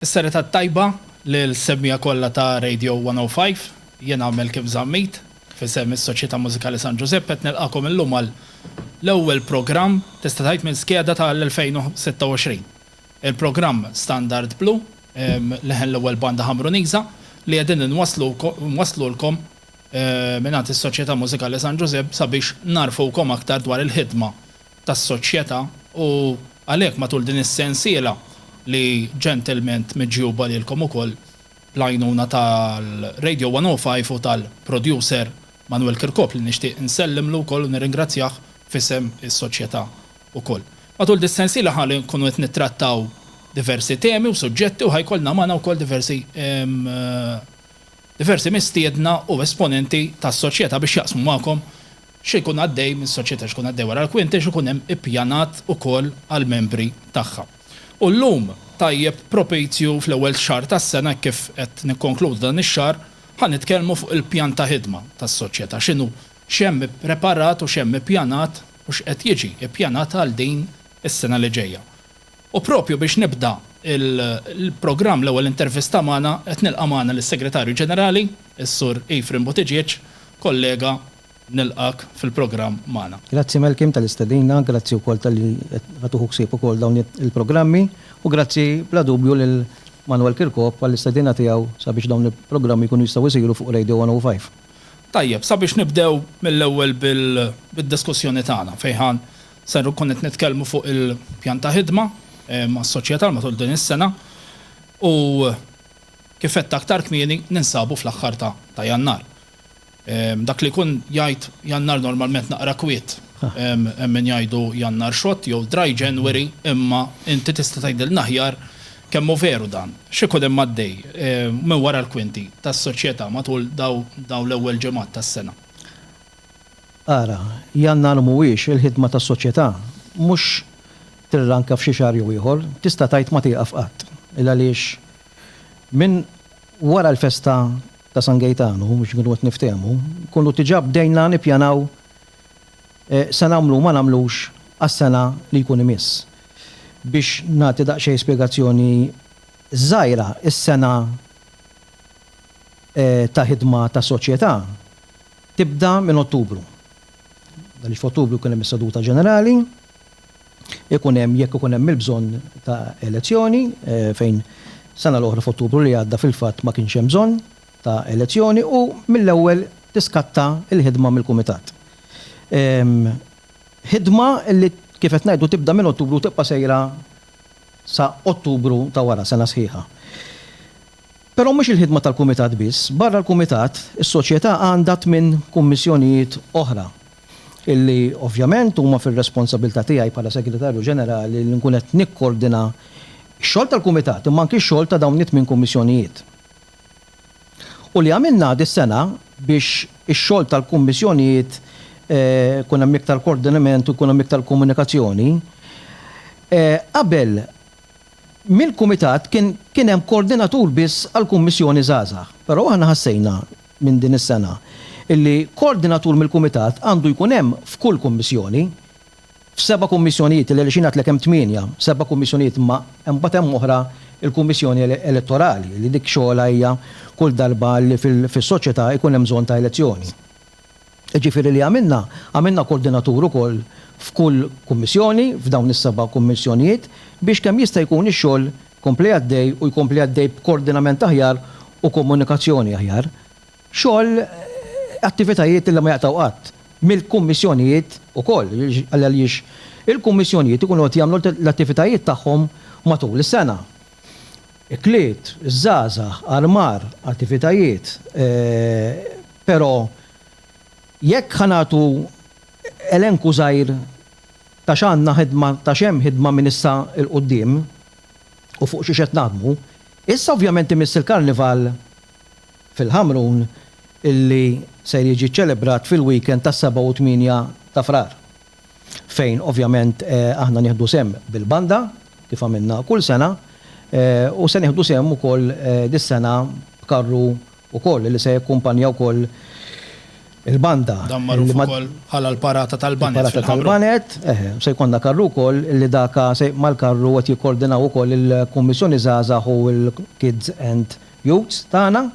Is-serata t-tajba lil semmiegħa kollha ta' Radio 105. Jien Għamel Kim Zammit, f'isem is-Soċjetà Mużikali San Ġużepp qed nilqagħkom illum għal l-ewwel programm tista' tgħid minn skeda ta' l-2026. Il-programm Standard Blu, leħen l-ewwel banda Ħamruniża, li qegħdin inwasslulkom mingħand is-Soċjetà Mużikali San Ġużepp sabiex ngħarrfukom aktar dwar il-ħidma tas-soċjetà u għalhekk matul din is-sensiela li ġentilment miġjuba lilkom ukoll bl-għajnuna tal-Radio 105 u tal-producer Manwel Kirkop li nixtieq insellimlu wkoll u nirringrazzjah f'isem is-soċjetà ukoll. Matul dis-sensiela ħa nkunu qed nittrattaw diversi temi u suġġetti u ħa jkollna magħna wkoll diversi Diversi mistiedna u esponenti tas-Soċjetà biex jaqsmu magħkom x'ikun għaddej mis-Soċjetà, x'ikun għaddej wara l-kwinti, x'ikun hemm ippjanat ukoll għall-membri tagħha. U llum, tajjeb propizju fl-ewwel xahar tas-sena hekk kif qed nikkonkludu dan ix-xahar, ħa nitkellmu fuq il-pjan ta' ħidma tas-Soċjetà, x'inhu, x'hemm ippreparat u x'hemm ippjanat u x'qed jiġi ippjanat għal din is-sena li ġejja. U propju biex nibda l-programm l-ewwel intervista magħna qed nilqa' magħna lis-Segretarju Ġenerali, is-Sur Ephraim Buttigieg, kollega nilqgħek fil-programm magħna. Grazzi Malcolm tal-istedina, grazzi wkoll talli qed tieħu ħsieb ukoll dawn il-programmi u grazzi bla dubju lil Manuel Kirkop għall-istedina tiegħu sabiex dawn il-programmi jkunu jistgħu jsiru fuq Radio 105. Tajjeb, sabiex nibdew mill-ewwel bid-diskussjoni tagħna fejn ħa Ser nkun qed nitkellmu fuq il-pjan ta' ħidma mas-Soċjetà għal matul din is-sena u kif għedt aktar kmieni ninsabu fl-aħħar ta' Jannar. Dak li jkun jgħid Jannar normalment naqra kwiet, hemm min jgħidu Jannar xott jew dry January imma inti tista' tgħidilna aħjar kemm hu veru dan. X'ikun hemm għaddej minn wara l-kwinti tas-Soċjetà matul dawn l-ewwel ġimgħat tas-sena? Ara, Jannar mhuwiex il-ħidma tas-soċjetà, mhux tirranka f'xi xahar jew ieħor, tista' tgħid ma tieqaf qatt, il-għaliex minn wara l-festa ta' San Gejtanu, biex inkunu qed niftehmu, nkunu diġà bdejna nippjanaw se nagħmlu u ma nagħmlux għas-sena li jkun imiss. Biex nagħti daqsxejn spjegazzjoni żgħira, is-sena ta' ħidma tas-soċjetà tibda minn Ottubru. Għaliex f'Ottubru jkun hemm is-seduta ġenerali, ikun hemm jekk ikun hemm il-bżonn ta' elezzjoni, fejn sena l-oħra f'Ottubru li għadda fil-fatt ma kienx hemm bżonn ta' elezzjoni u mill-ewwel tiskatta l-ħidma mill-kumitat. Ħidma li kif qed ngħidu tibda minn Ottubru u tibqa' sejra sa Ottubru ta' wara, sena sħiħa. Però mhux il-ħidma tal-Kumitat biss. Barra l-Kumitat, is-Soċjetà għandha tmien kummissjonijiet oħra, illi ovvjament huma fir-responsabilità tiegħi bħala Segretarju Ġenerali li nkun qed nikkordina x-xogħol tal-Kumitat imma anki x-xogħol ta' dawn it-tmien kummissjonijiet. U li għamilna dis-sena biex ix-xogħol tal-kummissjonijiet ikun hemm iktar kordinament u jkun hemm iktar komunikazzjoni, qabel, mill-Kumitat kien kien hemm koordinatur biss għall-Kummissjoni Żgħażagħ. Però aħna ħassejna minn din is-sena illi koordinatur mill-Kumitat għandu jkun hemm f'kull Kummissjoni. F'seba' Kummissjonijiet, għaliex jien għedtlek hemm tmienja, seba' Kummissjonijiet imma imbagħad hemm oħra l-Kummissjoni Elettorali li dik xogħolha hija kull darba li fis-soċjetà jkun hemm bżonn ta' elezzjoni. Jiġifieri li għamilna, għamilna koordinatur ukoll f'kull kummissjoni, f'dawn is-seba' kummissjonijiet, biex kemm jista' jkun ix-xogħol jkompli għaddej u jkompli għaddej b'koordinament aħjar u komunikazzjoni aħjar. Xogħol, attivitajiet li ma jaqtgħu qatt, mill-kummissjonijiet ukoll, għaliex il-kummissjonijiet ikunu qed jagħmlu l-attivitajiet tagħhom matul is-sena. ikliet, iż-żgħażagħ, armar, attivitajiet, però jekk ħa nagħtu elenku żgħir ta' x'għandna ħidma, ta' x'hemm ħidma minn issa 'l quddiem u fuq xiex qed naħdmu, issa ovvjament imiss il-Karnival fil-Ħamrun li ser jiġi ċċelebrat fil-weekend tas-seba' u t-tmienja ta' Frar. fejn ovvjament aħna nieħdu sehem bil-banda kif għamilna kull sena u se nieħdu sehem ukoll dis-sena b'karru wkoll li se jakkumpanja wkoll il-banda. Dan magħruf ukoll bħala l-Parata tal-Baned fil-Ħamrun. Il-Parata tal-Baned, eħe, se jkollna karru wkoll li dak se mal-karru qed jikkordinaw ukoll il-Kummissjoni Żgħażagħ u l-Kids and Youths tagħna.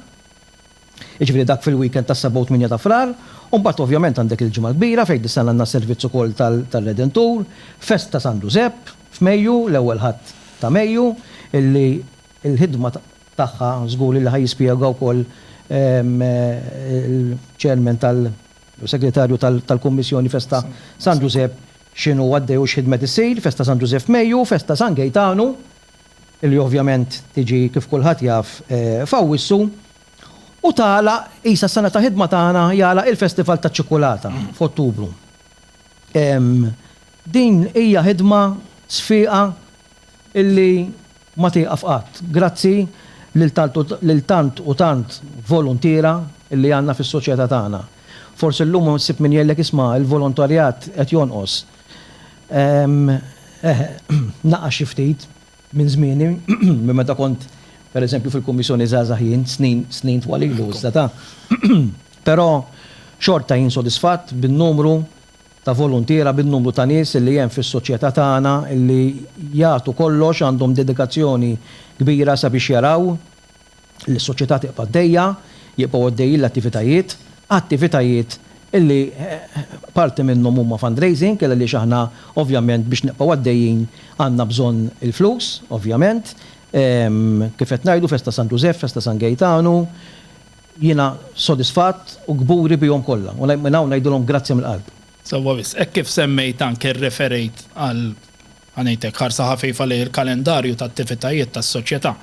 Jiġifieri dak fil-weekend tas-Sebgħa u Tmienja ta' Frar, u mbagħad ovvjament għandek il-Ġimgħa l-Kbira fejn din is-sena għandna servizz ukoll tar-Redentur, festa ta' San Ġużepp f'Mejju, l-ewwel Ħadd ta' Mejju, illi l-ħidma tagħha żgur illi ħa jispjega wkoll il-Chairman tal-, jew Segretarju tal-Kummissjoni Festa San Ġużepp x'inhu għaddej u x'ħidmet issir, festa San Ġużepp f'Mejju, festa San Gejtanu li ovvjament tiġi kif kulħadd jaf f'Awwissu u tagħlaq qisha s-sena ta' ħidma tagħna jagħlaq il-festival taċ-ċikkulata f'Ottubru. Din hija ħidma sfiqa li ma tieqaf qatt. Grazzi lil tant u tant voluntiera li għandna fis-soċjetà tagħna. Forsi llum issib min jgħidlek isma' l-volontarjat qed jonqos. Eh, naqax xi ftit minn żmieni, minn meta kont, per eżempju, fil-Kummissjoni żgħażagħ jien, snin, snin twal ilu iżda ta'. Però xorta jien sodisfatt bin-numru ta' voluntiera, bin-numru ta' nies li hemm fis-soċjetà tagħna li jagħtu kollox, għandhom dedikazzjoni kbira sabiex jaraw, li s-Soċjetà tibqa' għaddejja, jibqgħu għaddejjin l-attivitajiet, attivitajiet li parti minnhom huma fundraising għaliex aħna ovvjament biex nibqgħu għaddejjin għandna bżonn il-flus ovvjament. Kif qed ngħidu festa San Ġużeff, festa San Gejtanu, jiena sodisfatt u kburi bihom kollha u minn hawn ngħidilhom grazzi mill-qalb. Sewwa wisq. Hekk kif semmejt anke rreferejt għal Ħa ngħidlek ħarsa ħafifa lejn il-kalendarju ta' attivitajiet tas-Soċjetà.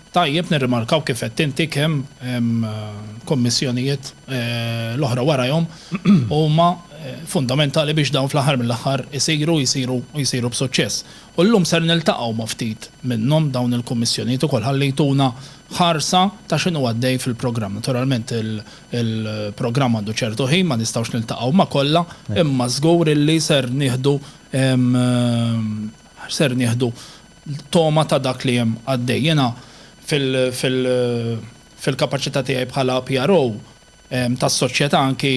Tajjeb nirrimarkaw kif għedt inti kemm kummissjonijiet l-oħra warajhom huma fundamentali biex dawn fl-aħħar mill-aħħar isiru u jsiru u jsiru b'suċċess. U llum ser niltaqgħu ma' ftit minnhom dawn il-kummissjonijiet ukoll ħalli jtuna ħarsa ta' x'inhu għaddej fil-programm. Naturalment il-programm għandu ċertu ħin ma nistgħux niltaqgħu ma' kollha imma żgur illi ser nieħdu Ser nieħdu togħma ta' dak li hemm għaddej. Jiena fil-kapaċità tiegħi bħala PRO tas-Soċjetà anki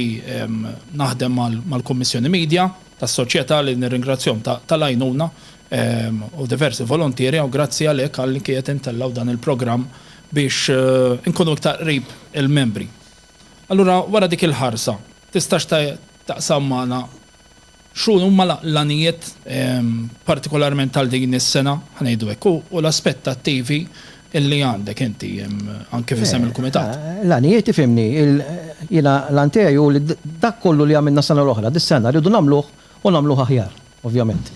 naħdem mal-Kummissjoni Media tas-Soċjetà li nirringrazzjahom tal-għajnuna u diversi voluntieri u grazzi għalhekk għal li qed intellgħu dan il-programm biex inkunu iktar qrib il-membri. Allura wara dik il-ħarsa tistax taqsam magħna X'huma l-għanijiet partikolarment għal din is-sena, ħa ngħidu hekk, u l-aspettattivi li għandek inti anke f'isem il-Kumitat? L-għanijiet, ifhimni, jiena l-għan tiegħi hu li dak kollu li għamilna s-sena l-oħra, dis-sena rridu nagħmluh u nagħmluh aħjar, ovvjament.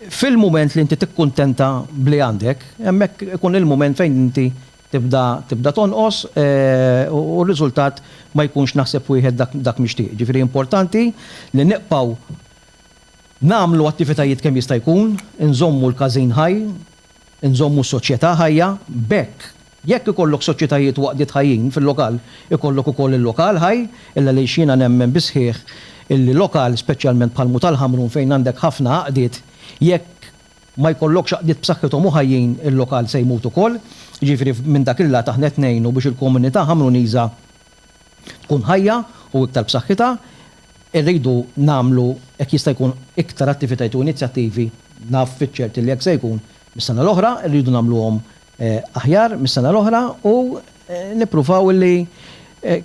Fil-mument li inti tikkuntenta b'li għandek, hemmhekk ikun il-mument fejn inti tibda tibda tonqos u r-riżultat ma jkunx naħseb wieħed dak dak mixtieq. Jiġifieri importanti li nibqgħu nagħmlu attivitajiet kemm jista' jkun, inżommu l-każin ħaj, inżommu s-soċjetà ħajja, b'hekk jekk ikollok soċjetajiet u għaqdiet ħajjin fil-lokal ikollok ukoll il-lokal ħaj, illgħaliex jiena nemmen bis-sħiħ illi lokal speċjalment bħal Mhu tal-Ħamrun fejn għandek ħafna għaqdiet jekk ma jkollokx għaqdiet b'saħħithom u ħajjin il-lokal se jmut ukoll. Jiġifieri minn dak il-lat aħna qed ngħinu biex il-komunità Ħamruniża tkun ħajja u iktar b'saħħitha. Irridu nagħmlu hekk jista' jkun iktar attivitajiet u inizjattivi, naf fiċ-ċert li hekk se jkun mis-sena l-oħra, irridu nagħmluhom aħjar mis-sena l-oħra u nippruvaw li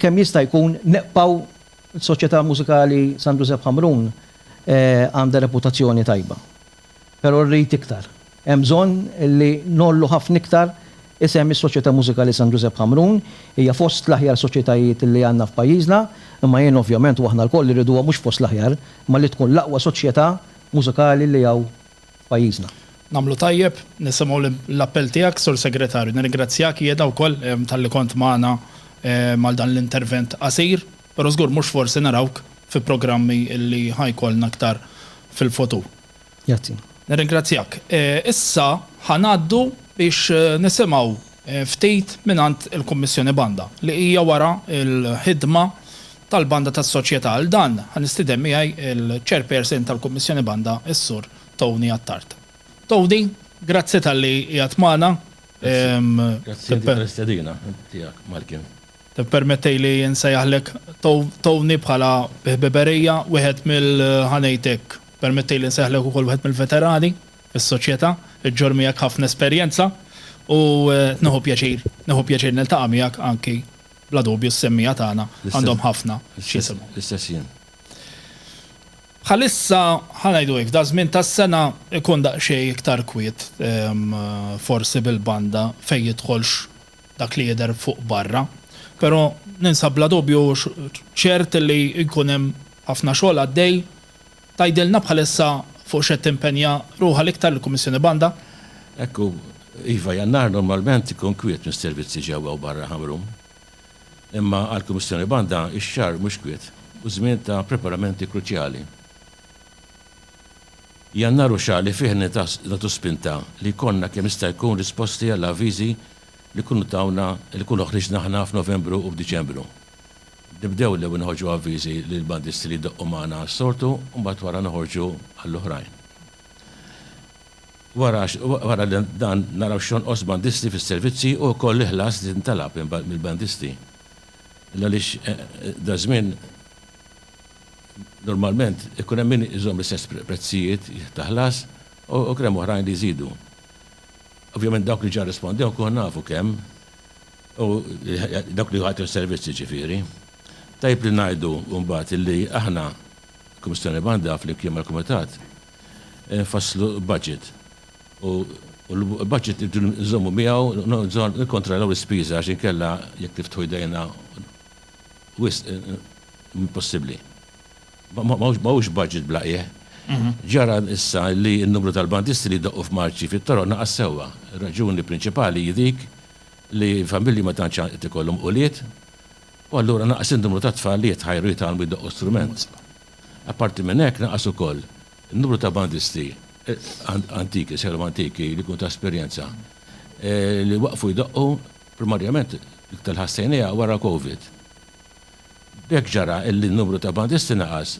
kemm jista' jkun neqpaw is-Soċjetà Mużikali San Ġużepp Ħamrun għandha reputazzjoni tajba. però rrid iktar. Hemm bżonn li ngħollu ħafna iktar isem is-Soċjetà Mużikali San Ġużepp Ħamrun. Hija fost l-aħjar soċjetajiet li għandna f'pajjiżna, imma jien ovvjament u aħna lkoll irriduha mhux fost l-aħjar, imma li tkun l-aqwa soċjetà mużikali li hawn f'pajjiżna. Nagħmlu tajjeb, nisimgħu l-appell tiegħek, Sur Segretarju. Nirringrazzjak jiena wkoll talli kont magħna għal dan l-intervent qasir. Pero żgur mhux forsi narawk fi programmi li ħa jkollna aktar fil-futur. Grazzi. Nirringrazzjak. Issa ħa ngħaddu biex nisimgħu ftit mingħand il-Kummissjoni Banda li hija wara l-ħidma tal-Banda tas-Soċjetà. Għal dan ħa nistieden miegħi l-Chairperson tal-Kummissjoni Banda, is-Sur Tony Attard. Tony, grazzi talli qiegħed magħna. Grazzi għall-istedina tiegħek, Malcolm. Ippermettejli nsejjaħlek Tony bħala bi ħbiberija wieħed mill-, ħa ngħid hekk, permettejli nsejjaħlek ukoll wieħed mill-veterani fis-soċjetà, iġġorr miegħek ħafna esperjenza u nieħu pjaċir, nieħu pjaċir niltaqa' miegħek anki bla dubju s-semmiegħa tagħna għandhom ħafna x'jisimgħu. L-istess jien. Bħalissa, ħa ngħidu hekk, daż-żmien tas-sena jkun daqsxejn iktar kwiet forsi bil-banda fejn jidħolx dak li jidher fuq barra, però ninsab bla dubju ċert li jkun hemm ħafna xogħol għaddej. Tgħidilna bħalissa fuq x'qed timpenja ruħha l-iktar il-Kummissjoni Banda? Hekk hu. Iva, Jannar normalment ikun kwiet mis-servizzi ġewwa u barra Ħamrun. Imma għall-Kummissjoni Banda x-xahar mhux kwiet u żmien ta' preparamenti kruċjali. Jannar hu xahar li fih nagħtu spinta li jkollna kemm jista' jkun risposti għall-avviżi li jkunu tawna li jkunu ħriġna aħna f'Novembru u f'Diċembru. Nibdew l-ewwel noħorġu avviżi lill-bandisti li jdoqqu magħna għas-sortu u mbagħad wara noħorġu għall-oħrajn. Wara dan naraw x'jonqos bandisti fis-servizzi u wkoll il-ħlas li jintalab mill-bandisti. Għaliex daż-żmien. normalment ikun hemm min iżomm l-istess prezzijiet ta' ħlas u jkun hemm oħrajn li jżidu. Ovvjament dawk li ġa rrispondew nkunu nafu kemm u dawk li jagħtu s-servizz jiġifieri. Tajjeb li ngħidu mbagħad li aħna, il-Kummissjoni b'għandha flimkien mal-Kumitat, infasslu budget u l-budget irridu nżommu miegħu, nikkontrollaw l-ispiża għax inkella jekk niftħu jdejna Wisq impossibbli. Ma hux budget bla qiegħ. Ġara issa li n-numru tal-bandisti li jdoqqu f'marċi fit-toroq naqas sewwa. Ir-raġuni prinċipali hi dik li l-familji ma tantx qed ikollhom ulied u allura naqas in-numru ta' tfal li jitħajru jitgħallmu jdoqqu strument. Apparti minn hekk naqas ukoll in-numru ta' bandisti antiki, sejħilhom antiki, li jkunu ta' esperjenza, li waqfu jdoqqu. Primarjament l-iktar ħassejniha wara Covid. B'hekk ġara illi n-numru ta' bandisti naqas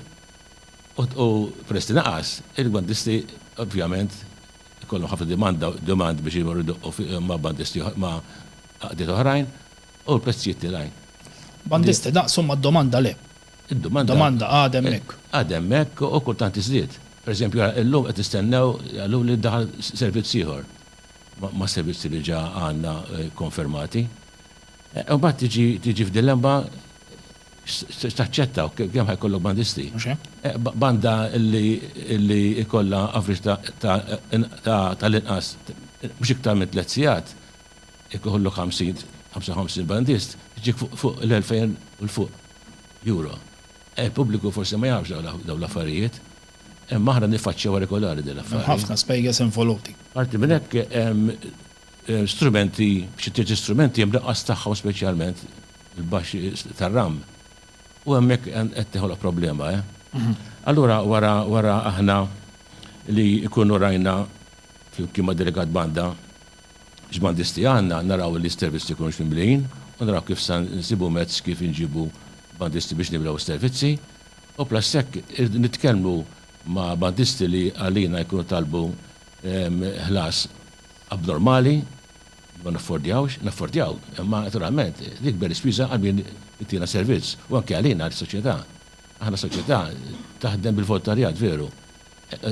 u peress li naqas, il-bandisti ovvjament ikollhom ħafna dimanda, demand biex imorru jdoqqu ma' bandisti ma' għaqdiet oħrajn u l-prezzijiet tilgħin. Bandisti naqsu imma d-domanda le. Id-domanda għadha hemmhekk. Għadha hemmhekk u kultant tiżdied. Per eżempju, illum qed nistennew, qaluli li daħal servizz ieħor. ma' servizzi li ġa għandna kkonfermati. Imbagħad tiġi tiġi f'dilemma x'se taċċetta u kemm ħa jkollok bandisti. Mhux hekk? Banda li li jkollha average ta' ta' ta' tal-inqas mhux iktar minn tliet sigħat, jekk ikollok 50 55 bandist, tiġik fuq fuq l-2,000 u 'l fuq Euro. Il-pubbliku forsi ma jafx dawn l-affarijiet. Imma aħna niffaċċjawha regolari din l-affari. Hemm ħafna spejjeż involuti. Parti minn hekk hemm strumenti, xi tliet istrumenti hemm l-inqas tagħhom speċjalment il-baxxi tar-ram. U hemmhekk qed toħloq problema, eh. Allura wara wara aħna li nkunu rajna flimkien mad-Delegat Banda x'bandisti għandna, naraw li s-servizzi jkunux mimlijin u naraw kif se nsibu mezz kif inġibu bandisti biex nimlew is-servizzi. U plus hekk irridu nitkellmu ma' bandisti li għalina jkunu talbu ħlas abnormali li ma naffordjawx, naffordjaw imma naturalment l-ikber ispiża għal min itina servizz u anke għalina għal soċjetà. Aħna soċjetà taħdem bil-voltarjat veru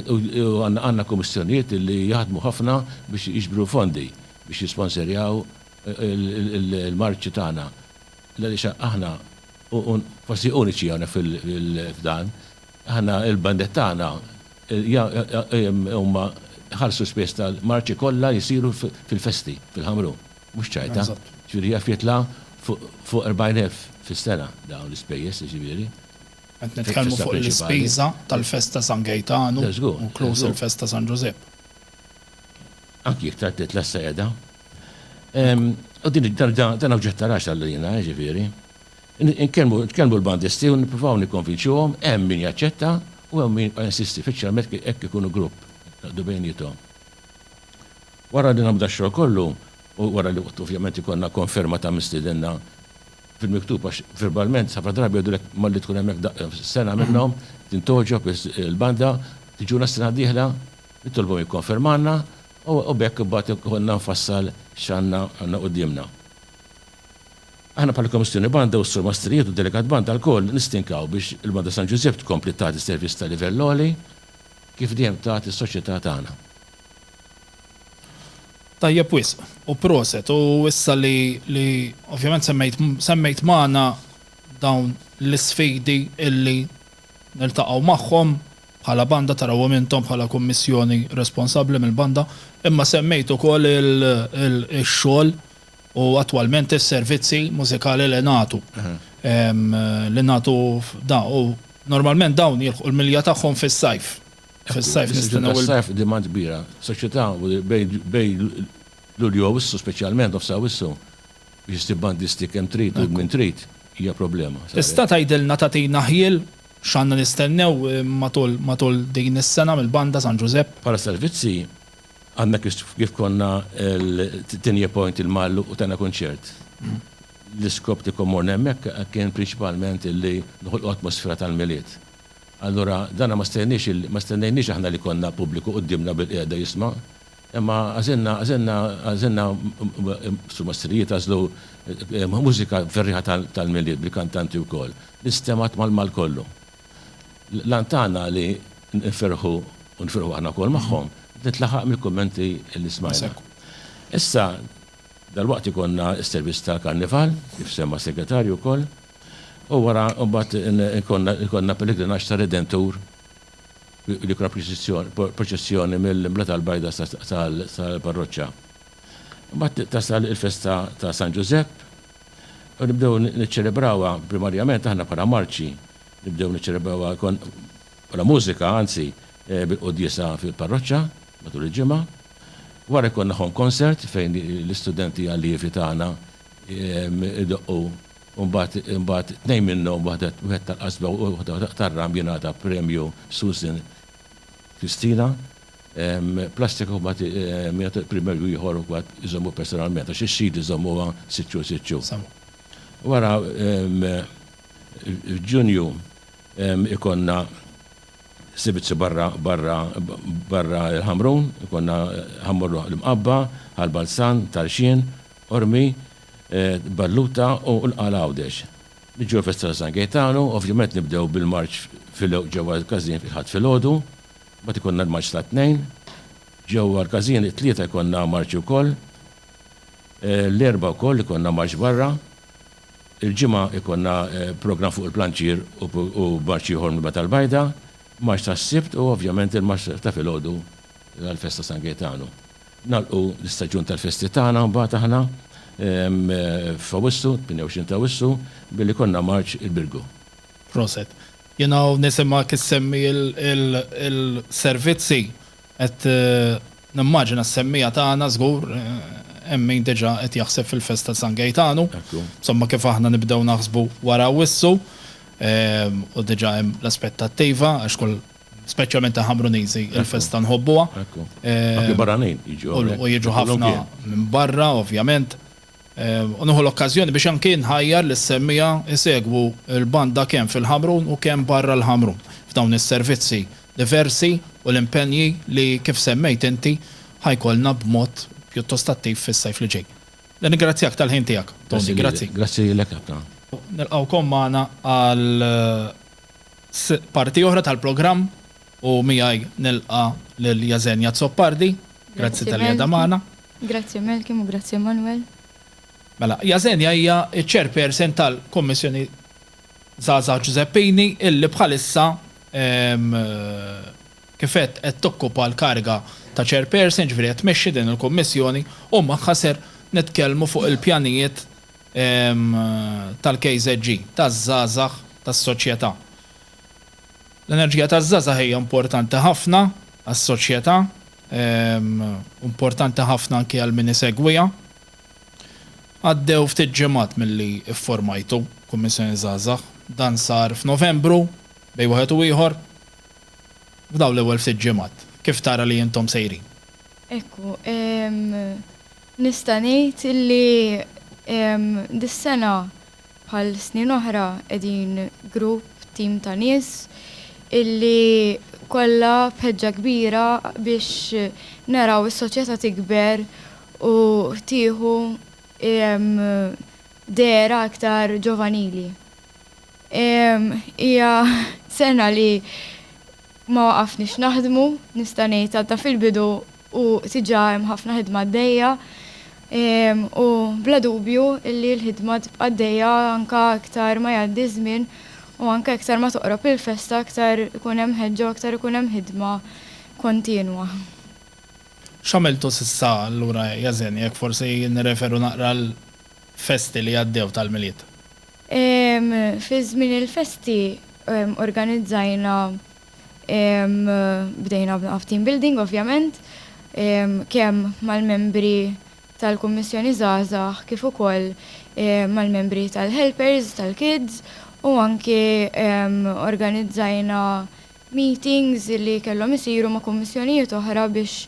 u għandna kummissjonijiet li jaħdmu ħafna biex jiġbru fondi biex jisponserjaw il-marċi tagħna l-għaliex aħna Forsi uniċi hawnhekk f'dan. Aħna l-bandet tagħna huma jħallsu l-ispejjeż tal-marċi kollha jsiru fil-festi fil-Ħamrun, mhux ċajta. Jiġifieri jaf jitla' fuq 40,000 fis-sena dawn l-ispejjeż, jiġifieri. Qed nitkellmu fuq l-ispiża tal-festa San Gejtanu, inkluż il-festa San Ġużepp. anki jekk tgħaddi tliet sejda. U din dan oġġett ta' raġel għalina, jiġifieri. Nitkellmu l-bandisti u nippruvaw nikkonvinċuhom, hemm min jaċċetta u hemm min jibqa' jinsisti, speċjalment jekk ikunu grupp, jaqdu bejniethom. Wara li nagħmlu dax-xogħol kollu u wara li ovvjament ikollna konferma ta' min stiedinna fil-miktub għax verbalment ħafna drabi jgħidulek malli tkun hemmhekk sena minnhom, tintgħoġob il-banda, tiġuna s-sena d-dieħla, Nitolbu jikkonfermalna u b'hekk imbagħad ikollna nfassal x'għandna għandna quddiemna. Aħna bħala Kummissjoni Banda u s-Sur Mastrijiet u d-Delegat Banda lkoll nistinkaw biex il-Banda San Ġużepp tkompli tagħti servizz ta' livell għoli kif dejjem tat is-soċjetà tagħna. Tajjeb wisq u proset u issa li li ovvjament semmejt semmejt magħna dawn l-isfidi illi niltaqgħu magħhom Bħala banda tarawhom intom bħala Kummissjoni responsabbli mill-banda, imma semmejt ukoll ix-xogħol u attwalment is-servizzi mużikali li nagħtu. Li nagħtu f'da u normalment dawn jilħqu l-milja tagħhom fis-sajf. Fis-sajf nistennew il. Fis-sajf demand kbira. Soċjetà bejn Lulju u Awwissu speċjalment nofs Awwissu biex issib bandisti kemm trid u minn trid hija problema. Tista' tgħidilna tagħtina ħjiel X'għandna nistennew matul din is-sena mill-Banda San Ġużepp? Bħala servizzi, għadna kif konna l-Tinja Point il-Magħluq u tajna kunċert. L-iskop li kont morna hemmhekk kien prinċipalment li noħolqu atmosfera tal-Milied. Allura dan ma stennejniex aħna li jkollna pubbliku quddiemna bilqiegħda jisma'. Imma għażilna, għażilna, għażilna, sumastrijiet għażlu mużika ferrieħa tal-Milied bil-kantanti wkoll, li stemgħet mal-Maltt kollu. L-għan tagħna li nferrħu, u nferrħu aħna wkoll magħhom, ntlaħaq mill-kummenti li smajna. Issa, dalwaqt ikollna s-servizz tal-Karnival, kif semma s-Segretarju wkoll, u wara mbagħad ikollna l-pellegrinaġġ tar-Redentur, l-ikra proċessjoni mill-Imblata l-Bajda sal-parroċċa. Imbagħad tasal il-festa ta' San Ġużepp u nibdew niċċelebrawha primarjament aħna bħala marċi, nibdew niċċelebrawha bħala mużika anzi bil-quddiesa fil-parroċċa matul il-ġimgħa. Wara jkollna home concert fejn l-istudenti allievi tagħna jdoqqu u mbagħad mbagħad tnejn minnhom waħda wieħed tal-qasba u waħda tar-ram jingħata premju Susan Christina Plastic huma min jagħti l-primerju ieħor ukoll iżommu personalment għax ix-xhieda jżommuha siċċu siċċu. Wara f'Ġunju ikollna sibizju barra barra barra l-Ħamrun ikollna Ħammur l-Imqabba, Ħal Balzan, Tarxien, Qormi, Balluta u l-Qala Għawdex. Niġu għall-festa ta' San Gejtanu, ovvjament nibdew bil-marċ filgħoq ġewwa l-każin fil-Ħadd filgħodu, mbagħad ikollna l-marċ tat-Tnejn. Ġewwa l-każin it-Tlieta jkollna marċi wkoll. L-Erbgħa wkoll ikollna marċ barra. Il-Ġimgħa jkollna programm fuq il-Planċier u marċ ieħor mill-Belt tal-Bajda, marċ tas-Sibt u ovvjament il-marċ ta' filgħodu għall-festa ta' San Gejtanu. Nagħlqu l-istaġun tal-festi tagħna mbagħad aħna f'Awwissu, 28 ta' Awwissu, billi jkollna marċ il-Birgu. Proset. Jien hawn nisimgħek issemmi l-servizzi, qed nimmaġina s-semmiegħa tagħna żgur hemm min diġà qed jaħseb fil-festa ta' San Gejtanu. Ekku. Insomma kif aħna nibdew naħsbu wara Awwissu, u diġà hemm l-aspettattiva għax kull, Speċjalment aħna Bruniżi il-festa nħobbuha. Ekku. Anki barranin jiġu hawn. U jiġu ħafna minn barra ovvjament. U nieħu l-okkażjoni biex anki nħajjar lis-semmiegħa jsegwu l-banda kemm fil-Ħamrun u kemm barra l-Ħamrun f'dawn is-servizzi diversi u l-impenji li kif semmejt inti ħa jkollna b'mod pjuttost attiv fis-sajf li ġej. Nirringrazzjak tal-ħin tiegħek, Toni. Grazzi. Grazzi lilek ħafna. Nilqgħukom magħna għal f'parti oħra tal-programm u miegħi nilqa' lil Jasenia Azzopardi. Grazzi talli qiegħda magħna. Grazzi Malcolm u grazzi Emmanuel. Mela, Jasenia hija ċ-Chairperson tal-Kummissjoni Żgħażagħ Ġużeppini illi bħalissa kif għedt qed tokkupa l-kariga ta' Chairperson, jiġifieri qed tmexxi din il-Kummissjoni u magħha ser nitkellmu fuq il-pjanijiet tal-KZG, taż-żgħażagħ, tas-soċjetà. L-enerġija taż-żgħażagħ hija importanti ħafna għas-soċjetà u importanti ħafna anki għal min isegwiha. Għaddew ftit ġimgħat milli fformajtu Kummissjoni Żgħażagħ. Dan sar f'Novembru bejn wieħed u ieħor. F'dawn l-ewwel ftit ġimgħat, kif tara li intom sejrin? Ekku, Nista' ngħid li dis-sena bħal snin oħra qegħdin grupp, tim ta' nies illi kollha b'ħeġġa kbira biex naraw is-soċjetà tikber u tieħu dehra aktar ġovanili. Hija sena li ma waqafniex naħdmu, nista' ngħid għadna fil-bidu. u diġà hemm ħafna ħidma għaddejja u bla dubju li l-ħidma tibqa' għaddejja anke iktar ma jgħaddi ż-żmien u anke iktar ma toqrob il-festa aktar ikun hemm ħeġġa u aktar ikun hemm ħidma kontinwa. X'għamiltu s'issa allura Yazen, jekk forsi nirreferu naqra għal festi li għaddew tal-Milied? Fi żmien il-festi organizzajna Bdejna f'team building ovvjament, kemm mal-membri tal-Kummissjoni Żgħażagħ kif ukoll mal-membri tal-helpers tal-kids u anki organizzajna meetings li kellhom isiru ma' kummissjonijiet oħra biex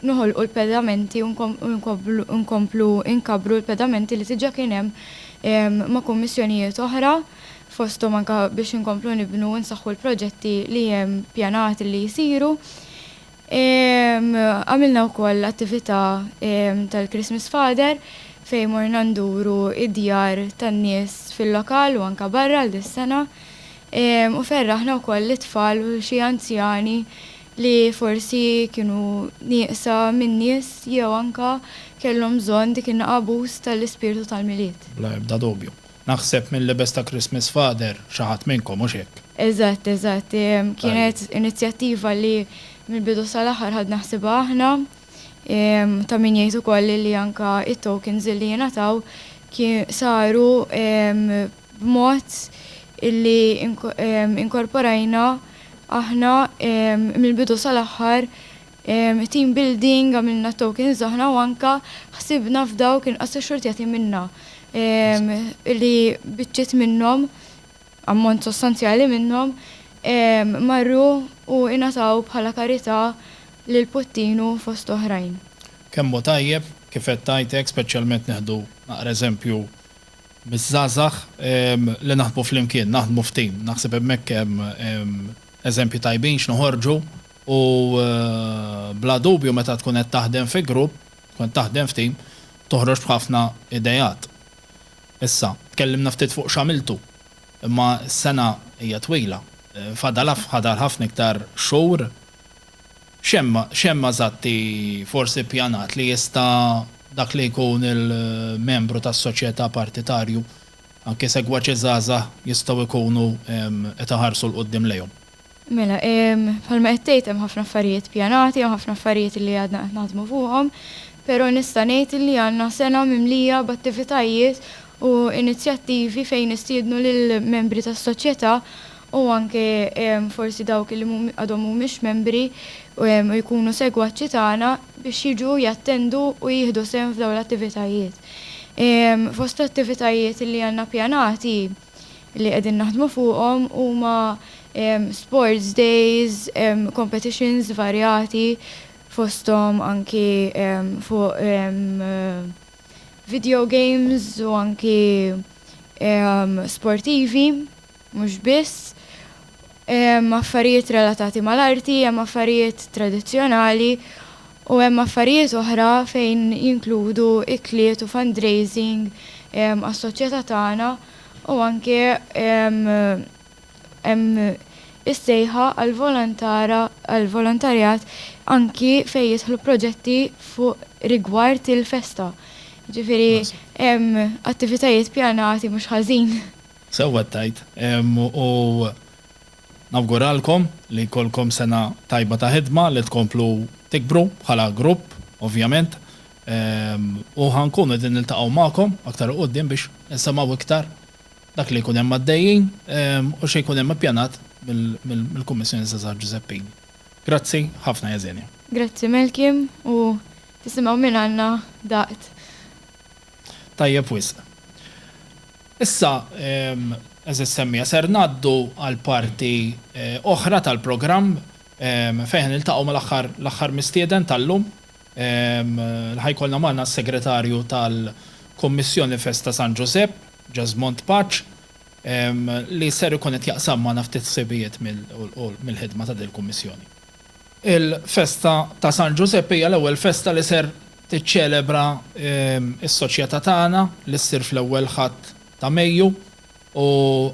noħolqu l-pedamenti u nkomplu nkabbru l-pedamenti li diġà kien hemm ma' kummissjonijiet oħra. fosthom anke biex inkomplu nibnu u nsaħħu l-proġetti li hemm pjanati li jsiru. Għamilna wkoll attività tal-Christmas Father fejn morna nduru d-djar tan-nies fil-lokal u anke barra għal dis-sena u ferraħna wkoll lit-tfal u xi anzjani li forsi kienu nieqsa minn nies jew anke kellhom bżonn dik in-naqabuz tal-ispirtu tal-Milied. Bla ebda dubju, Naħseb mil-lebes ta' Christmas Father xi ħadd minnkom, hux hekk? Eżatt, eżatt. Kienet inizjattiva li mill-bidu sal-aħħar ħadna ħsiebha aħna. Ta' min jgħid ukoll li anke t-tokens li ingħataw saru b'mod li inkorporajna aħna mill-bidu sal-aħħar Team building, għamilna tokens aħna u anke ħsibna f'dawk inqas xxurtjati minna li biċċiet minnhom, ammont sostanzjali minnhom, marru u ingħataw bħala karità lil Puttinu fost oħrajn. Kemm hu tajjeb, kif qed tgħid hekk, speċjalment nieħdu naqra eżempju miż-żgħażagħ li naħdmu flimkien, naħdmu f'team. Naħseb hemmhekk hemm eżempji tajbin x'noħorġu. U bla dubju meta tkun qed taħdem fi grupp, tkun qed taħdem f'team, toħroġ b'ħafna ideat. Issa, tkellimna ftit fuq x'għamiltu, imma s-sena hija twila, fadal fadal ħafna iktar xhur. X'hemm x'hemm eżatti forsi ppjanat li jista' dak li jkun il-membru tas-soċjetà partitarju, anki segwaċi żgħażagħ jistgħu jkunu qed iħarsu 'l quddiem lejhom? Mela, bħalma qed tgħid hemm ħafna affarijiet pjanati, hemm ħafna affarijiet li għadna qed naħdmu fuqhom, pero' nista' ngħid li għandna sena mimlija b'attivitajiet u inizjattivi fejn nistiednu lill-membri tas-soċjetà u anke forsi dawk li għadhom mhumiex membri u jkunu segwaċi tagħna biex jiġu jattendu u jieħdu sehem f'dawn l-attivitajiet. Fost l-attivitajiet li għandna pjanati, li qegħdin naħdmu fuqhom huma sports days, competitions varjati fosthom anki fuq video games u anki sportivi mhux biss, affarijiet relatati mal-arti, hemm affarijiet tradizzjonali, U hemm affarijiet oħra fejn jinkludu ikliet u fundraising għas-soċjetà tagħna u anke hemm is-sejħa għall-volontarjat anki fejn jidħlu proġetti fuq rigward il-festa. Jiġifieri hemm attivitajiet pjanati mhux ħażin. Sewwa tgħid. U Nawguralkom li jkollkom sena tajba ta' ħidma li tkomplu tikbru bħala grupp ovvjament u ħa nkunu qegħdin niltaqgħu magħkom aktar 'il quddiem biex insemgħu iktar dak li jkun hemm għaddejjin u xi jkun hemm ippjanat mill-Kummissjoni Żgħażagħ Ġużeppin. Grazzi ħafna Jesenia. Grazzi Malkim u tisimgħu mingħandna daqt. Tajjeb wisq. Issa, għeżież semmiegħa, ser ngħaddu għal parti oħra tal-programm fejn ħa niltaqgħu mal-aħħar l-aħħar mistieden tal-lum li ħa jkollna magħna s-Segretarju tal-Kummissjoni Festa San Ġużepp, Jesmond Paċ, li ser ikun qed jaqsam magħna ftit ħsibijiet mill-ħidma ta' dil-Kummissjoni. Il-festa ta' San Ġużeppi hija l-ewwel festa li ser tiċċelebra s-soċjetà tagħna li ssir fl-ewwel Ħadd ta' Mejju u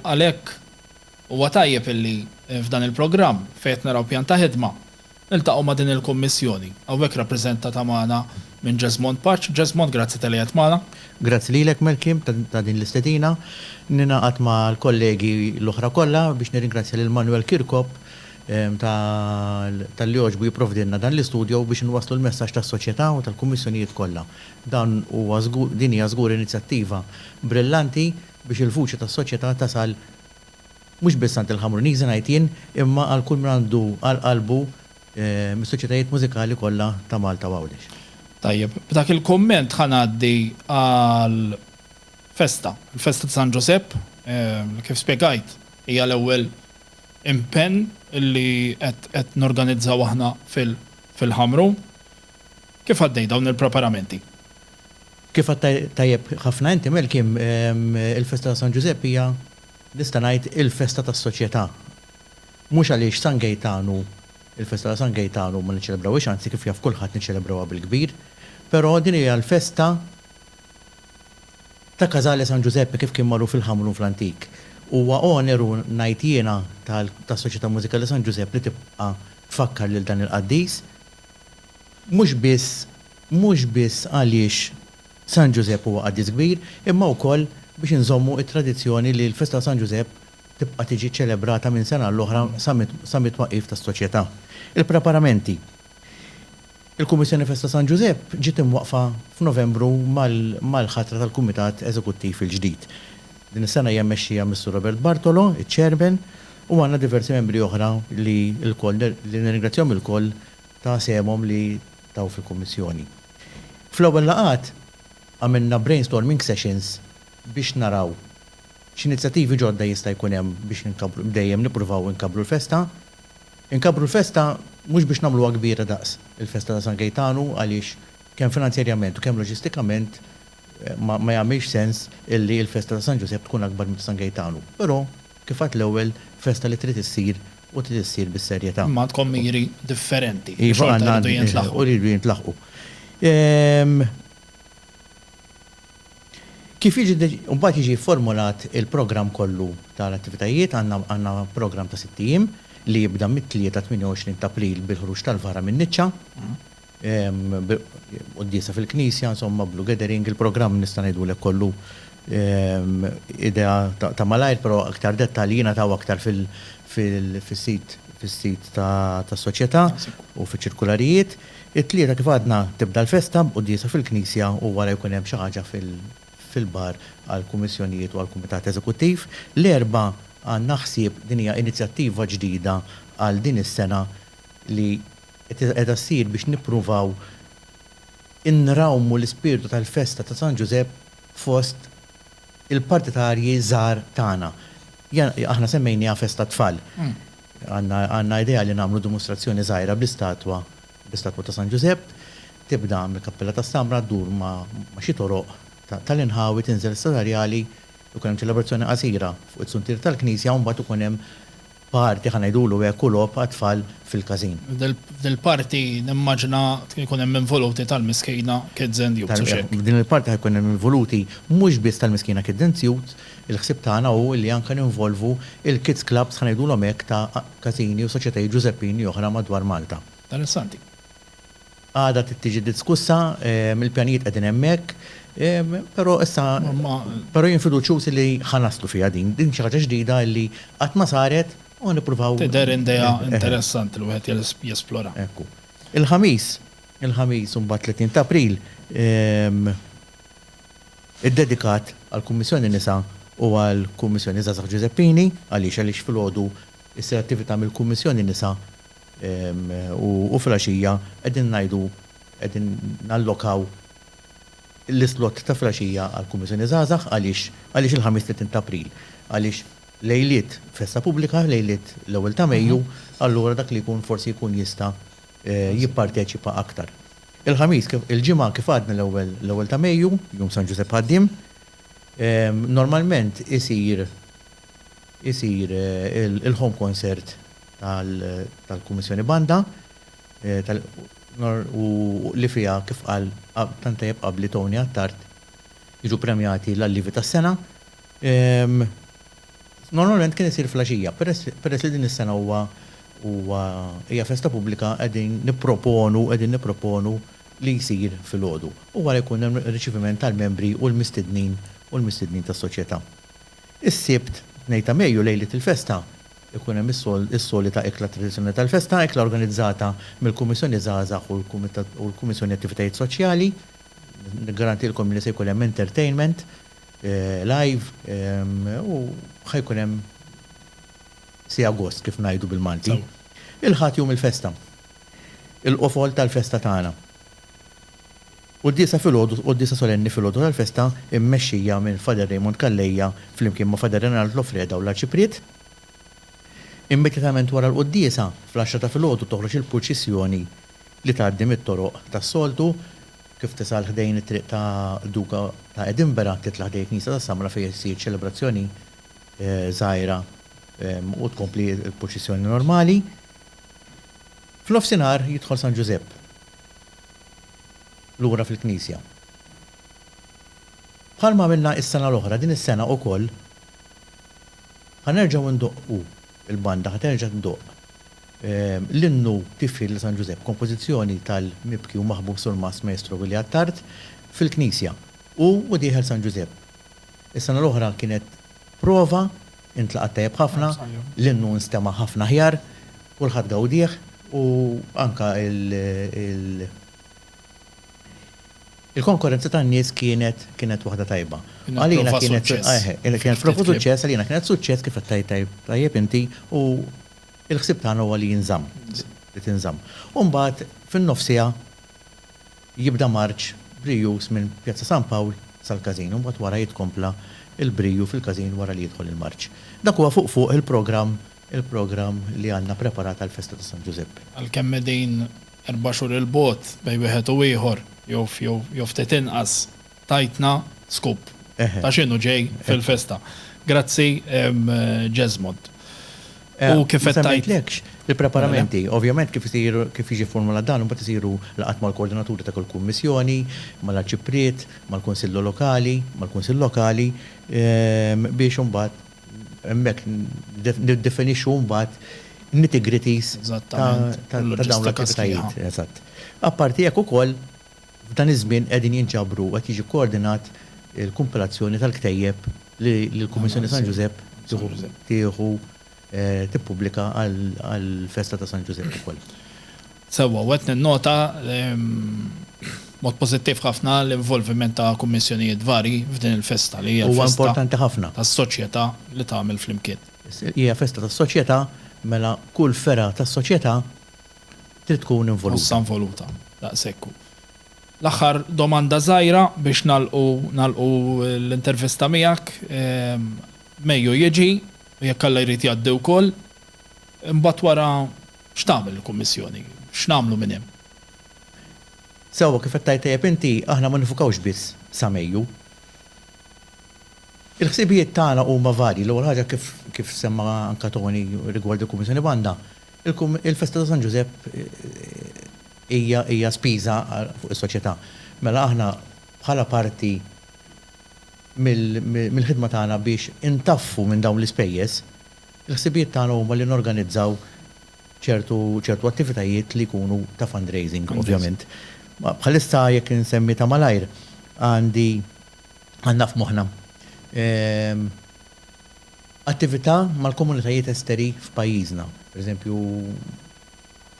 għalhekk huwa tajjeb illi f'dan il-programm fejn qed naraw pjan ta' ħidma niltaqgħu ma' din il-kummissjoni hawnhekk rappreżentata magħna minn Jesmond Paċ. Jesmond, grazzi talli qiegħed magħna. Grazzi lilek Melkim ta' din l-istedina. Ningħaqad mal-kollegi l-oħra kollha biex nirringrazzja lil Manuel Kirkop Tal-li għoġbu jipprovdilna dan l-istudjo biex inwasslu l-messaġġ tas-soċjetà u tal-kummissjonijiet kollha. Dan huwa żgur, din hija żgur inizjattiva brillanti biex il-vuċi tas-soċjetà tasal mhux biss għand il-Ħamruniżi ngħid jien imma għal kull min għandu għal qalbu mis-soċjetajiet mużikali kollha ta' Malta u Għawdex. Tajjeb, b'dak il-kumment ħa ngħaddi għal festa, il-festa ta' San Ġusepp, kif spjegajt hija l-ewwel, impenn li qed norganizzaw aħna fil-Ħamru. Kif għaddej dawn il-preparamenti? Kif għedt tajjeb ħafna inti Malcolm, il-festa ta' San Ġużepp hija nista' ngħid il-festa tas-soċjetà. Mhux għaliex San Gejtan hu l-festa ta' San Gejtan u ma niċċelebrawhiex, anzi kif jaf kulħadd niċċelebrawha bil-kbir, però din hija l-festa Ta' Casale San Giuseppe kif kien magħruf il-Ħamrun fl-antik. Huwa oneru, ngħid jiena, tas-Soċjetà Mużikali San Ġużepp li tibqa' tfakkar lil dan il-qaddis. Mhux biss, mhux biss għaliex San Ġużepp huwa qaddis kbir, imma wkoll biex inżommu t-tradizzjoni li l-festa ta' San Ġużepp tibqa' tiġi ċċelebrata minn sena għall-oħra sa mit-twaqqif tas-Soċjetà. Il-preparamenti. Il-Kummissjoni Festa San Ġużepp ġiet imwaqqfa f'Novembru mal-ħatra tal-Kumitat Eżekuttiv il-ġdid. Din is-sena hija mmexxija mis-Sur Robert Bartolo, iċ-Chairman, u għandna diversi membri oħra li lkoll li nirringrazzjahom ilkoll ta' sehemhom li taw fil-Kummissjoni. Fl-ewwel laqgħat għamilna brainstorming sessions biex naraw x'inizjattivi ġodda jista' jkun hemm biex inkabbru dejjem nippruvaw inkabbru l-festa. Inkabbru l-festa mhux biex nagħmluha kbira daqs il-festa ta' San Gejtanu għaliex kemm finanzjarjament u kemm loġistikament ma ma jagħmilx sens illi l-festa ta' San Ġużepp tkun akbar minn ta' San Gejtanu, però kif għidt l-ewwel festa li trid issir u trid issir bis-serjetà. Imma għandkom miri differenti li xorta jridu jintlaħqu. Iva għandna u jridu jintlaħqu. Kif jiġi deċ. Mbagħad jiġi fformulat il-programm kollu tal-attivitajiet, għandna għandna programm ta' sitt ijiem li jibda mit-Tlieta 28 t'April bil-ħruġ tal-vara min-niċċa, quddiesa fil-knisja, insomma blue gathering, il-programm nista' ngħidulek kollu idea ta' malajr però iktar dettalji jingħataw aktar fil fil fis-sit fis-sit tas-soċjetà u fiċ-ċirkularijiet. It-Tlieta kif għadna tibda l-festa b'quddiesa fil-knisja u wara jkun hemm xi ħaġa fil-bar għall-kummissjonijiet u għall-kumitat eżekuttiv. L-Erbgħa għandna ħsieb, din hija inizjattiva ġdida għal din is-sena li qiegħda ssir biex nippruvaw inrawmu l-ispirtu tal-festa ta' San Ġużepp fost il-partitarji żgħar tagħna. Aħna semmejnieha festa tfal. Għandna idea li nagħmlu dimustrazzjoni żgħira bl-istatwa bl-istatwa ta' San Ġużepp. Tibda mill-Kappella tas-Samra, ddur ma' xi toroq tal-inħawi, tinżel sa Sarjali, ikun hemm ċelebrazzjoni qasira fuq is-suntier tal-knisja u mbagħad ikun hemm party, ħa ngħidulu hekk, u logħob għat-tfal fil-każin. F'dil-party nimmaġina jkun hemm involuti tal-Miskejna Kids and Youths, hux hekk? F'din il-party ħa jkun hemm involuti mhux biss tal-Miskejna Kids and Youths, Il-ħsieb tagħna hu li anke ninvolvu l-kids clubs ħa ngħidulhom hekk ta' Każini u Soċjetajiet Ġużeppini oħra madwar Malta. Dan is-Sunday. Għada trid tiġi diskussa, il-pjanijiet qegħdin hemmhekk, però issa, però jien fiduċjuż li ħa naslu fiha din. Din xi ħaġa ġdida li qatt ma saret u ħa nippruvaw. Tidher idea interessanti li wieħed jesplora. Ekku. Il-Ħamis, il-Ħamis imbagħad 30 t'April, iddedikat għall-Kummissjoni Nisa u għall-Kummissjoni Żgħażagħ Giuseppini. Għaliex? Għaliex filgħodu ssir attività mill-Kummissjoni Nisa u filgħaxija qegħdin ngħidu qegħdin nallokaw l-islott ta' filgħaxija għall-Kummissjoni Żgħażagħ. Għaliex? Għaliex il-Ħamis 30 ta' April għaliex lejliet festa pubblika, lejliet l-ewwel ta' Mejju, allura dak li jkun forsi jkun jista' jipparteċipa aktar. Il-Ħamis, il-Ġimgħa kif għadna l-ewwel l-ewwel ta' Mejju, Jum San Ġużepp Ħaddiem, normalment isir isir il-home concert tal-Kummissjoni Banda u li fiha kif qal tant tajjeb qabli Tony Attard jiġu premjati l-allievi tas-sena. Normalment kien isir fl-għaxija, peress peress li din is-sena huwa huwa hija festa pubblika qegħdin nipproponu qegħdin nipproponu li jsir filgħodu. U wara jkun hemm riċiviment tal-membri u l-mistednin u l-mistednin tas-Soċjetà. Is-Sibt, 2 ta' Mejju, lejliet il-festa, ikun hemm is-sol is-solita ikla tradizzjonali tal-festa, ikla organizzata mill-Kummissjoni Żgħażagħ u l-Kumitat u l-Kummissjoni Attivitajiet Soċjali. Niggarantilkom li se jkun hemm entertainment. live u ħa jkun hemm siegħa gost kif ngħidu bil-Malti. Il-Ħadd jum il-festa. Il-qofol tal-festa tagħna. Quddiesa filgħodu, quddiesa solenni filgħodu tal-festa mmexxija minn Father Raymond Calleja flimkien ma' Father Renald Loffreda u l-Arċipriet. Immedjatament wara l-quddiesa fl-għaxra ta' filgħodu toħroġ il-purċissjoni li tgħaddi mit-toroq tas-soltu Kif tisal ħdejn it-Triq ta' Duka ta' Edinburgh, titla' ħdejn il-Knisja ta' Samra fejn issir ċelebrazzjoni żgħira u tkompli l-purċissjoni normali. F'nofsinhar jidħol San Ġużepp lura fil-Knisja. Bħalma għamilna s-sena l-oħra, din is-sena wkoll ħa nerġgħu ndoqqu. Il-banda ħa terġa' tdoqq. L-innu Tifħir lil San Ġużepp, kompożizzjoni tal-mibki u maħbub surmast Maestro Willie Attard, fil-knisja. Hu u dieħel San Ġużepp. Is-sena l-oħra kienet prova, intlaqat tajjeb ħafna, l-innu nstema' ħafna aħjar, kulħadd gawdieh u anke Il-konkorrenza tan-nies kienet kienet waħda tajba. Għalina kienet suċċess. Kienet prova suċċess, għalina kienet suċċess kif qed tgħid tajjeb inti u l-ħsieb tagħna huwa li jinżamm, li tinżamm. U mbagħad fin-nofsiha jibda marċ brijus minn Pjazza San Pawl sal-Każin u mbagħad wara jitkompla l-briju fil-Każin wara li jidħol il-marċ. Dak huwa fuq fuq il-programm il-programm li għandna preparat għall-festa ta' San Ġużeppi. Għalkemm qegħdin erba' xhur 'il bogħod bejn wieħed u ieħor, jew ftit inqas, tajtna scoop ta' x'inhu ġej fil-festa. Grazzi Jesmond. U kif qed tgħid. Ma semmejtlekx il-preparamenti. Ovvjament kif isir, kif jiġi fformulat dan, imbagħad isiru laqgħat mal-koordinaturi ta' kull kummissjoni, mal-arċipriet, mal-kunsillu lokali, mal-kunsill lokali, biex imbagħad. Hemmhekk niddefinixxu mbagħad nitty-gritties ta' dawn l-attivitajiet. Eżatt. Apparti hekk ukoll, f'dan iż-żmien qegħdin jinġabru u qed jiġi kkoordinat il-kumpilazzjoni tal-ktejjeb li l-Kummissjoni San Ġużepp tieħu tippubblika għall-festa ta' San Ġużepp ukoll. Sewwa, u qed ninnota b'mod pożittiv ħafna l-involviment ta' kummissjonijiet varji f'din il-festa li hija festa tas-soċjetà li tagħmel flimkien. Hija festa tas-soċjetà, mela kull fergħa tas-soċjetà trid tkun involuta. Nħossha involuta, daqshekk hu. L-aħħar domanda żgħira biex nagħlqu nagħlqu l-intervista miegħek. Mejju jiġi, u jekk Alla jrid jgħaddi wkoll, imbagħad wara, X'tagħmel il-Kummissjoni? X'nagħmlu minn hemm? Sewwa kif qed tgħid tajjeb inti, aħna ma nifukawx biss sa Mejju. Il-ħsibijiet tagħna huma varji. L-ewwel ħaġa kif kif semma anke Toni rigward il-Kummissjoni Banda, il-Kumm il-Festa ta' San Ġużepp hija hija spiża fuq is-soċjetà. Mela aħna bħala parti mill mill-ħidma tagħna biex intaffu minn dawn l-ispejjeż, Il-ħsibijiet tagħna huma li norganizzaw ċertu ċertu attivitajiet li jkunu ta' fundraising ovvjament. Bħalissa jekk insemmi ta' malajr għandi għandna f'moħħna attività mal-komunitajiet esteri f'pajjiżna. Per eżempju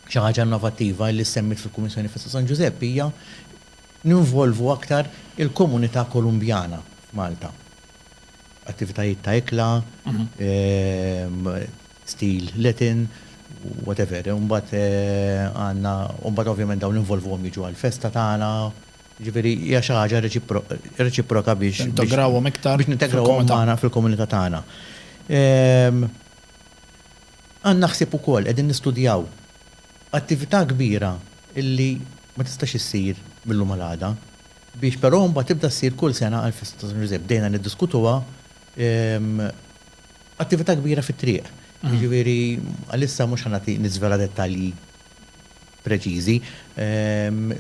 xi ħaġa innovattiva illi ssemmit fil-Kummissjoni Festa San Ġużepp hija ninvolvu aktar il-komunità Kolumbjana f'Malta. Attivitajiet ta' ikla, stil Latin, whatever. Imbagħad għandna, u mbagħad ovvjament dawn ninvolvuhom jiġu għall-festa tagħna. Jiġifieri hija xi ħaġa reċiproka biex. Tintegrawhom iktar. Biex nintegrawhom magħna fil-komunità tagħna. Għandna ħsieb ukoll, qegħdin nistudjaw attività kbira li ma tistax issir mil-lum għal għada. biex però mbagħad tibda ssir kull sena għall-festa ta' San Ġużepp. Bdejna niddiskutuha, attività kbira fit-triq. Jiġifieri għalissa mhux ħa nagħti niżvela dettalji preċiżi,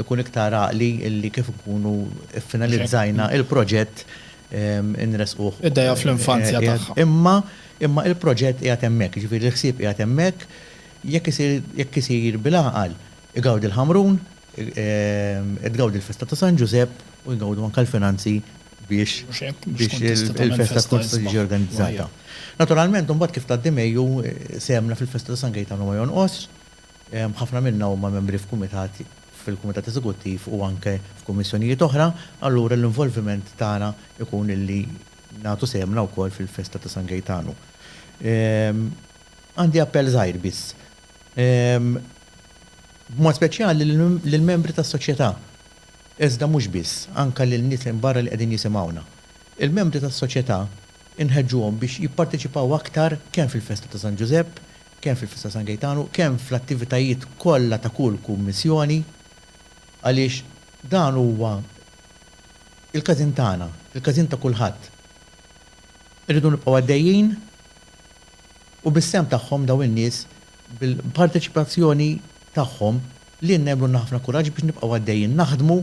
ikun iktar għaqli li kif inkunu ffinalizzajna l-proġett inressquh. Ideja fl-infanzja tagħha. Imma imma l-proġett qiegħed hemmhekk, jiġifieri l-ħsieb qiegħed hemmhekk, jekk isir jekk isir bil-għaqal, igawdi l-Ħamrun, Qed tgawdi l-festa ta' San Ġużepp u jgawdu anke l-finanzi biex il-festa tkun tista' tiġi organizzata. Naturalment imbagħad kif tgħaddi Mejju, sehemna fil-festa ta' San Gejtanu ma jonqosx. Ħafna minna huma membri f'kumitat, fil-kumitat eżekuttiv u anke f'kummissjonijiet oħra, allura l-involviment tagħna jkun illi nagħtu sehemna wkoll fil-festa ta' San Gejtanu. Għandi appell żgħir biss. b'mod speċjali lill-membri tas-soċjetà, iżda mhux biss, anke lil nies minn barra li qegħdin jisimgħuna. Il-membri tas-soċjetà inħeġġuhom biex jipparteċipaw aktar kemm fil-festa ta' San Ġużepp, kemm fil-festa ta' San Gejtanu, kemm fl-attivitajiet kollha ta' kull kummissjoni, għaliex dan huwa l-każin tagħna, il-każin ta' kulħadd. Irridu nibqgħu għaddejjin. u bis-sehem tagħhom dawn in-nies bil-parteċipazzjoni tagħhom li jnebblulna ħafna kuraġġ biex nibqgħu għaddejjin naħdmu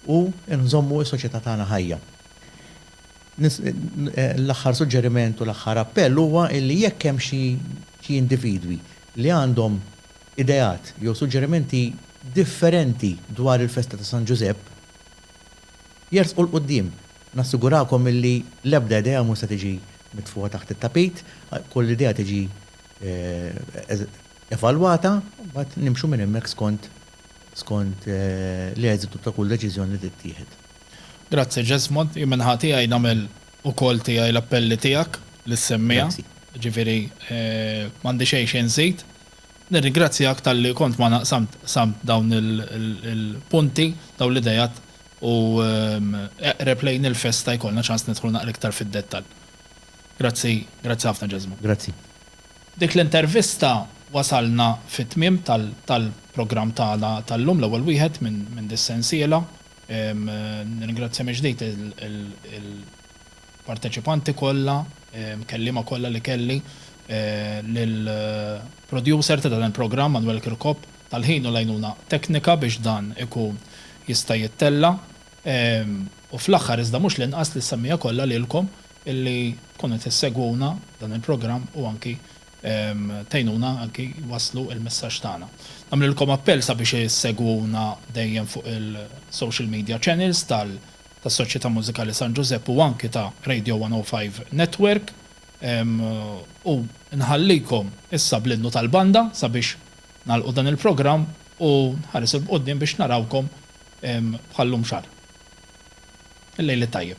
u nżommu s-soċjetà tagħna ħajja. L-aħħar suġġeriment u l-aħħar appell huwa illi jekk hemm xi xi individwi li għandhom ideat jew suġġerimenti differenti dwar il-festa ta' San Ġużepp, jersqu 'l quddiem. Nassigurakom illi l-ebda idea mhux se tiġi mitfugħa taħt it-tapit, kull idea tiġi evalwata u mbagħad nimxu minn hemmhekk skont skont l-eżitu ta' kull deċiżjoni li tittieħed. Grazzi Jesmond, jien min-naħa tiegħi nagħmel ukoll tiegħi l-appelli tiegħek li ssemmiha, jiġifieri m'għandi xejn xi nżid. Nirringrazzjak talli kont magħna qsamt dawn il-punti, dawn l-ideat u eqreb lejn il-festa jkollna ċans nidħlu naqra iktar fid-dettall. Grazzi, grazzi ħafna Ġeżma. Grazzi. B'dik l-intervista wasalna fit-tmiem tal-programm tagħna tal-lum, l-ewwel wieħed minn dis-sensiela. Nirringrazzja mill-ġdid il. parteċipanti kollha, kelliema kollha li kelli, lill-producer ta' dan il-programm Manwel Kirkop tal-ħin u l-għajnuna teknika biex dan ikun jista' jittella', u fl-aħħar iżda mhux l-inqas lis-semmiegħa kollha lilkom illi tkunu tissegwuna dan il-programm u anki tgħinuna anki wasslu il-messaġġ tagħna. Nagħmlilkom appell sabiex issegwuna dejjem fuq il-social media channels tal. tas-Soċjetà Mużikali San Ġużepp u anki ta' Radio 105 Network u nħallikom issa bl-innu tal-banda sabiex nagħlqu dan il-programm u nħares 'il quddiem biex narawkom bħal-lum xahar. Il-lejl it-tajjeb.